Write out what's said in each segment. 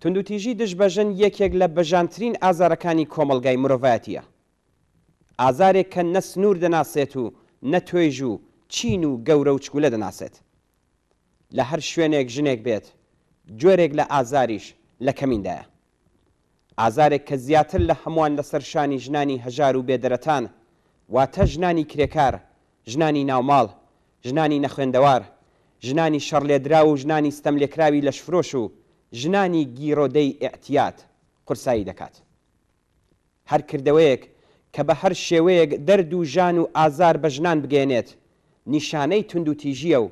توندوتیژی دژ بە ژن یەکێک لە بەژانترین ئازارەکانی کۆمەڵگای مرۆڤایەتییە. ئازارێک کە نە سنوور دەناسێت و نە توێژ و چین و گەورە و چکولە دەناسێت. لە هەر شوێنێک ژنێک بێت، جۆرێک لە ئازاریش لە کەمیندایە. ئازارێک کە زیاتر لە هەمووان لەسەر شانی ژنانی هەژار و بێدەرەتان، واتە ژنانی کرێکار، ژنانی ناوماڵ، ژنانی نەخوێندەوار، ژنانی شەڕلێدراو و ژنانی ستەملێکراوی لەشفرۆش و ژنانی گیرۆدەی ئیعتیاد، قورسایی دەکات. هەر کردەوەیەک کە بە هەر شێوەیەک دەرد و ژان و ئازار بە ژنان بگەیەنێت، نیشانەی توندوتیژییە و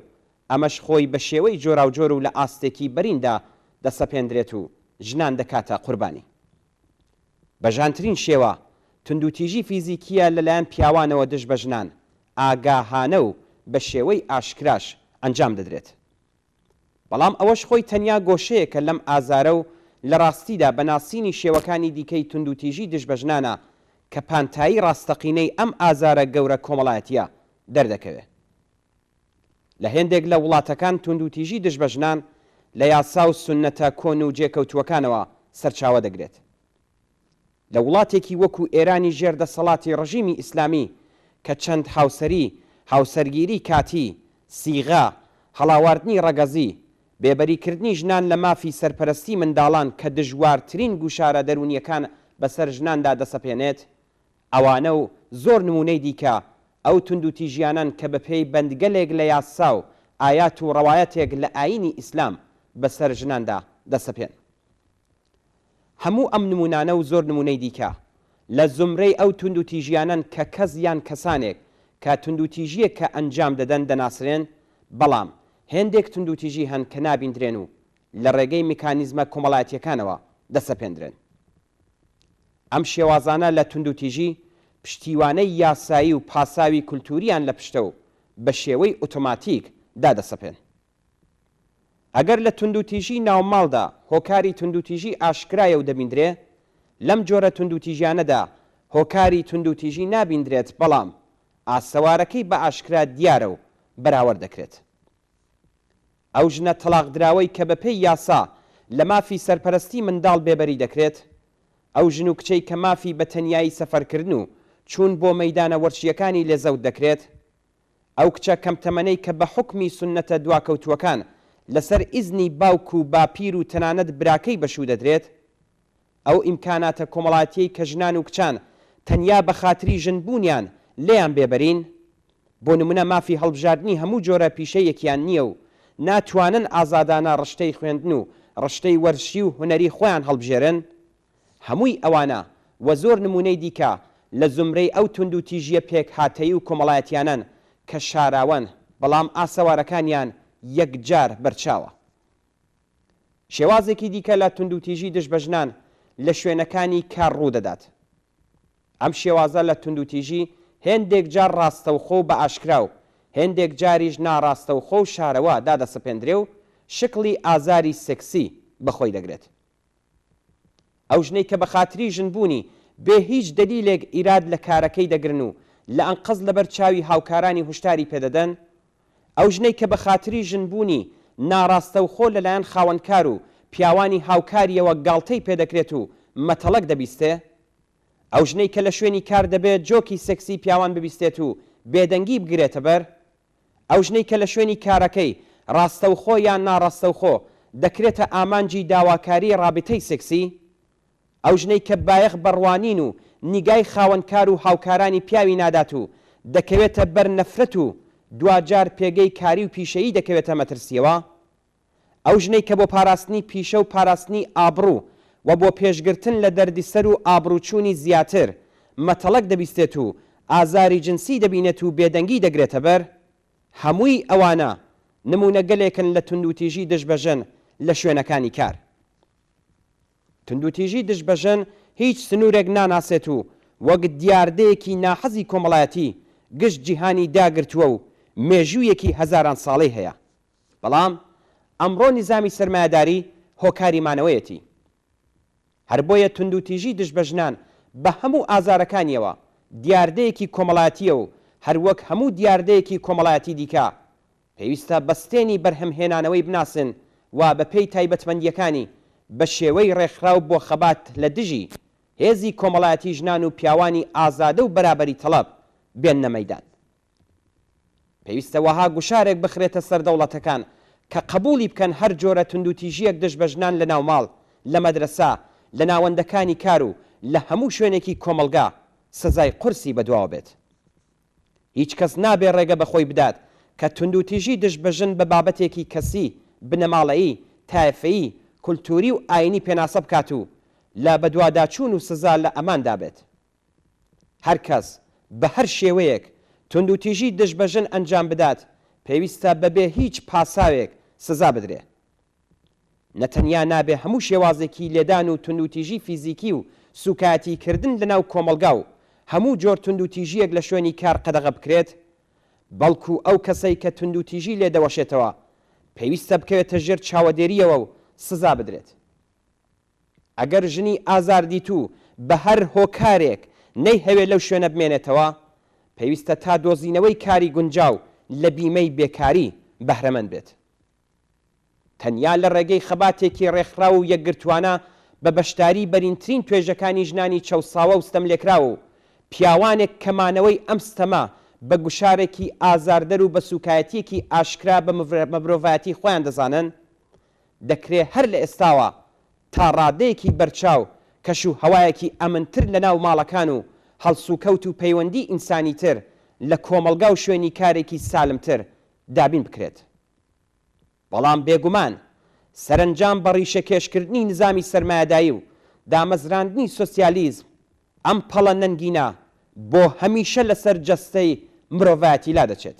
ئەمەش خۆی بە شێوەی جۆراوجۆر و لە ئاستێکی بەریندا دەسەپێندرێت و ژنان دەکاتە قوربانی. بە ژانترین شێوە، توندوتیژی فیزیکییە لەلایەن پیاوانەوە دژ بە ژنان، ئاگاهانە و بە شێوەی ئاشکراش ئەنجام دەدرێت. بەڵام ئەوەش خۆی تەنیا گۆشەیەکە لەم ئازارە و لە ڕاستیدا بە ناسینی شێوەکانی دیکەی توندوتیژی دژ بە ژنانە کە پانتایی ڕاستەقینەی ئەم ئازارە گەورە کۆمەڵایەتییە دەردەکەوێت. لە هێندێک لە وڵاتەکان توندوتیژی دژ بە ژنان لە یاسا و سوننەتە کۆن و جێکەوتووەکانەوە سەرچاوە دەگرێت. لە وڵاتێکی وەکوو ئێرانی ژێر دەسەڵاتی ڕژیمی ئیسلامی کە چەند هاوسەری، هاوسەرگیری کاتی، سیغە، هەڵاواردنی ڕەگەزی، بێبەری کردنی ژنان لە مافی سەرپەرەستی منداڵان کە دژوارترین گوشارە دەروونییەکان بەسەر ژناندا دەسەپێنێت، ئەوانە و زۆر نموونەی دیکە، ئەو توندوتیژیانەن کە بەپێی بەندگەلێک لە یاسا و ئایات و ڕەوایەتێک لە ئایینی ئیسلام بەسەر ژناندا دەسەپێن. هەموو ئەم نموونانە و زۆر نموونەی دیکە، لە زومرەی ئەو توندوتیژیانەن کە کەس یان کەسانێک کە توندوتیژییەک کە ئەنجام دەدەن دەناسرێن، بەڵام هێندێک توندوتیژی هەن کە نابیندرێن و لە ڕێگەی میکانیزمە کۆمەڵایەتییەکانەوە دەسەپێندرێن. ئەم شێوازانە لە توندوتیژی، پشتیوانەی یاسایی و پاساوی کولتوورییان لە پشتە و بە شێوەی ئۆتۆماتیک دادەسەپێن. ئەگەر لە توندوتیژی ناوماڵدا هۆکاری توندوتیژی ئاشکرایە و دەبیندرێ، لەم جۆرە توندوتیژیانەدا هۆکاری توندوتیژی نابیندرێت بەڵام ئاسەوارەکەی بە ئاشکرا دیارە و بەراوەرد دەکرێت. ئەو ژنە تەڵاقدراوەی کە بەپێی یاسا لە مافی سەرپەرەستی منداڵ بێبەری دەکرێت، ئەو ژن و کچەی کە مافی بە تەنیایی سەفەرکردن و چوون بۆ مەیدانە وەرچییەکانی لێ زەوت دەکرێت، ئەو کچە کەم تەمەنەی کە بە حوکمی سوننەتە دواکەوتووەکان لەسەر ئیزنی باوک و باپیر و تەنانەت براکەی بەشوو دەدرێت، ئەو ئیمکاناتە کۆمەڵاتیەی کە ژنان و کچان تەنیا بە خاتری ژن بوونیان لێیان بێبەرین، بۆ نمونە مافی هەڵبژاردنی هەموو جۆرە پیشەیەکیان نییە و ناتوانن ئازادانە ڕشتەی خوێندن و ڕشتەی وەرزشی و هونەری خۆیان هەڵبژێرن، هەمووی ئەوانە و زۆر نمونەی دیکە لە زومرەی ئەو توندوتیژیە پێکهاتەیی و کۆمەڵایەتیانەن کە شاراوەن بەڵام ئاسەوارەکانیان یەکجار بەرچاوە. شێوازێکی دیکە لە توندوتیژی دژ بە ژنان لە شوێنەکانی کار ڕوو دەدات. ئەم شێوازە لە توندوتیژی هێندێک جار ڕاستەوخۆ و بە ئاشکرا و هێندێک جاریش ناڕاستەوخۆ و شارەوا دادەسەپێندرێ و شکڵی ئازاری سێکسی بە خۆی دەگرێت. ئەو ژنەی کە بە خاتری ژن بوونی بێ هیچ دەلیلێک ئیراد لە کارەکەی دەگرن و لە ئەنقەست لە بەر چاوی هاوکارانی هوشداری پێ دەدەن؟ ئەو ژنەی کە بە خاتری ژن بوونی ناراستەوخۆ لە لایەن خاوەن کار و پیاوانی هاوکاریەوە گاڵتەی پێ دەکرێت و مەتەڵەک دەبیستێ؟ ئەو ژنەی کە لە شوێنی کار دەبێ جۆکی سێکسی پیاوان ببیستێت و بێدەنگی بگرێتە بەر؟ ئەو ژنەی کە لە شوێنی کارەکەی، ڕاستەوخۆ یان ناڕاستەوخۆ، دەکرێتە ئامانجی داواکاریی ڕابتەی سێکسی؟ ئەو ژنەی کە بایەخ بە ڕوانین و نیگای خاوەنکار و هاوکارانی پیاوی نادات و دەکەوێتە بەر نەفرەت و دواجار پێگەی کاری و پیشەیی دەکەوێتە مەترسییەوە؟ ئەو ژنەی کە بۆ پاراستنی پیشە و پاراستنی ئابڕوو و بۆ پێشگرتن لە دەردیسەر و ئابڕووچوونی زیاتر، مەتەڵەک دەبیستێت و ئازاری جنسی دەبینێت و بێدەنگی دەگرێتە بەر، هەمووی ئەوانە نموونەگەلێکن لە توندوتیژی دژ بە ژن لە شوێنەکانی کار. توندوتیژی دژ بە ژن هیچ سنوورێک ناناسێت و وەک دیاردەیەکی ناحەزی کۆمەڵایەتی گشت جیهانی داگرتووە و مێژوویەکی هەزاران ساڵەی هەیە. بەڵام ئەمڕۆ نیزامی سەرمایەداری هۆکاری مانەوەیەتی. هەر بۆیە توندوتیژی دژ بە ژنان بە هەموو ئازارەکانییەوە دیاردەیەکی کۆمەڵاتییە و هەر وەک هەموو دیاردەیەکی کۆمەڵایەتی دیکە پێویستە بەستێنی بەرهەمهێنانەوەی بناسن و بە پێی تایبەتمەندییەکانی بە شێوەی ڕێکخراو بۆ خەبات لە دژی هێزی کۆمەڵایەتی ژنان و پیاوانی ئازادە و بەرابەری تەڵەب بێننە مەیدان. پێویستە وەها گوشارێک بخرێتە سەر دەوڵەتەکان کە قەبووڵی بکەن هەر جۆرە توندوتیژییەک دژ بە ژنان لە ناوماڵ، لە مەدرەسە، لە ناوەندەکانی کار و لە هەموو شوێنێکی کۆمەڵگا سزای قورسی بەدواوە بێت. هیچ کەس نابێ ڕێگە بە خۆی بدات کە توندوتیژی دژ بە ژن بە بابەتێکی کەسی، بنەماڵەیی، تایفەیی، کولتووری و ئایینی پێناسە بکات و لە بەدواداچوون و سزا لە ئەماندا بێت. هەر کەس بە هەر شێوەیەک توندوتیژی دژ بە ژن ئەنجام بدات پێویستە بەبێ هیچ پاساوێک سزا بدرێ. نە تەنیا نابێ هەموو شێوازێکی لێدان و توندوتیژی فیزیکی و سووکایەتی کردن لە ناو کۆمەڵگا و هەموو جۆر توندوتیژییەک لە شوێنی کار قەدەغە بکرێت، بەڵکوو ئەو کەسەی کە توندوتیژی لێ دەوەشێتەوە پێویستە بکەوێتە ژێر چاوەدێرییەوە و سزا بدرێت. ئەگەر ژنی ئازاردیتوو بە هەر هۆکارێک نەیهەوێ لەو شوێنە بمێنێتەوە، پێویستە تا دۆزینەوەی کاری گونجاو لە بیمەی بێکاری بەهرەمەند بێت. تەنیا لە ڕێگەی خەباتێکی ڕێکخراو و یەکگرتووانە بە بەشداری بەرینترین توێژەکانی ژنانی چەوساوە و ستەملێکراو و پیاوانێک کە مانەوەی ئەم ستەمە بە گوشارێکی ئازاردەر و بە سووکایەتییەکی ئاشکرا بە مرۆڤایەتی خۆیان دەزانن دەکرێ هەر لە ئێستاوە تا ڕادەیەکی بەرچاو کەش و هەوایەکی ئەمنتر لە ناو ماڵەکان و هەڵسوکەوت و پەیوەندی ئینسانیتر لە کۆمەڵگا و شوێنی کارێکی سالمتر دابین بکرێت. بەڵام بێگومان سەرەنجام بە ڕیشەکێشکردنی نزامی سەرمایەدایی و دامەزراندنی سۆسیالیزم ئەم پەڵە نەنگینە بۆ هەمیشە لەسەر جەستەی مرۆڤایەتی لادەچێت.